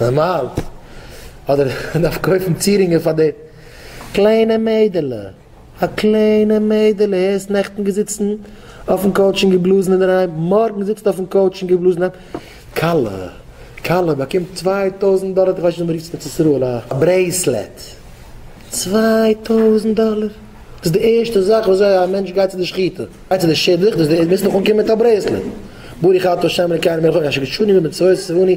נארמאל, אדער דארף קויפן צירינגען פאר דעם. קליינע מיידעלע, א קליינע מיידעלע הערסט נעכטן געזיצן אויפן קאוטש און געבלאזן אינדערהיים, מארגן זיצט אויפן קאוטש און געבלאזן אינדערהיים. כלה, כלה באקומט צוויי טויזנט דאלער, איך ווייס נישט ווי מ'רופט עס אין ארץ ישראל, א ברעיסלעט, צוויי טויזנט דאלער, דאס איז די ערשטע זאך וואס זיי א מענטש גייט צו די שחיטה, גייט צו די שידוך, דאס איז די ערשטע, מוזט נאך אנקומען מיט א ברעיסלעט, ברוך אתה ה' אלוקינו מלך העולם, אשר קידשני במצוות וציווני.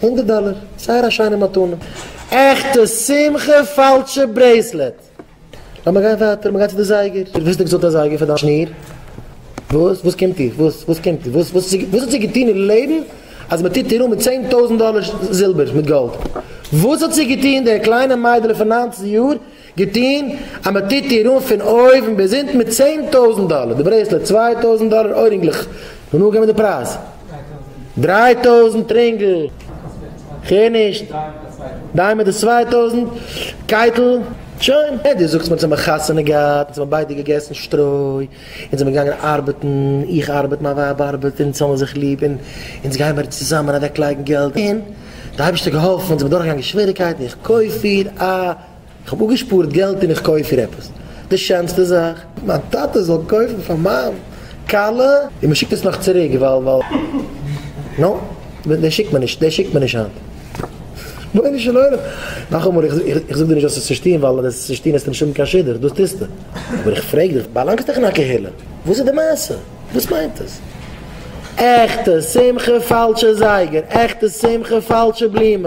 הונדערט דאלער, זייער א שיינע מתנה. עכטע שמחה פאלשע ברעיסלעט. לאמיר גיין ווייטער, מ'גייט צו די זייגער. דו האסט ניקס געזאגט א זייגער פאר דיין שניר? וואס? וואס קומט דיר? וואס? וואס קומט דיר? וואס? וואס האט זי געטון אין לעבן אז מ'טוט איר אן מיט צען טויזנט דאלער זילבער מיט גאלד? וואס האט זי געטון די קליינע מיידעלע פון ניינצן יאר? געטוהן אז מען טוט איר אן פון אויבן ביז אונטן מיט צען טויזענט דאלער, די ברעיסלעט צוויי טויזענט דאלער, אוירינגלעך, מען האט אנגעגעבן די פרייז דריי טויזענט, רינגל, כ'הער נישט, דיימענד איז צוויי טויזענט, קייטל, שוין, דו זאגסט מיר אז מען האט חתונה געהאט, אונז האבן ביידע געגעסן שטרוי, אונז זעמיר געגאנגען ארבעטן, איך ארבעט מיין ווייב ארבעט, אונז האמיר זיך ליב, און אונז גיימיר צוזאמען אוועקלייגן געלט, און די אייבערשטער האט געהאלפן, אונז זעמיר דורכגעגאנגען שוועריקייטן, איך קויף איר א. איך האב אפגעשפארט געלט און איך קויף איר עפעס די שענסטע זאך. מיין טאטע זאל קויפן פאר מיין כלה? און מען שיקט עס נאך צוריק ווייל. נא. דעס שיקט מען נישט. דעס שיקט מען נישט היינט. רבונו של עולם. נאכאמאל איך זאג דיר נישט וואס עס צו טון ווייל ווען עס צו טון עסטו נישט האבן קיין שידוך דאס טוסטו. אבער איך פרעג דיך באלאנגסט דאך אין א קהילה וואס איז די מעשה? וואס מיינט עס? עכטע שמחה פאלשע זייגער עכטע שמחה פאלשע בלומען.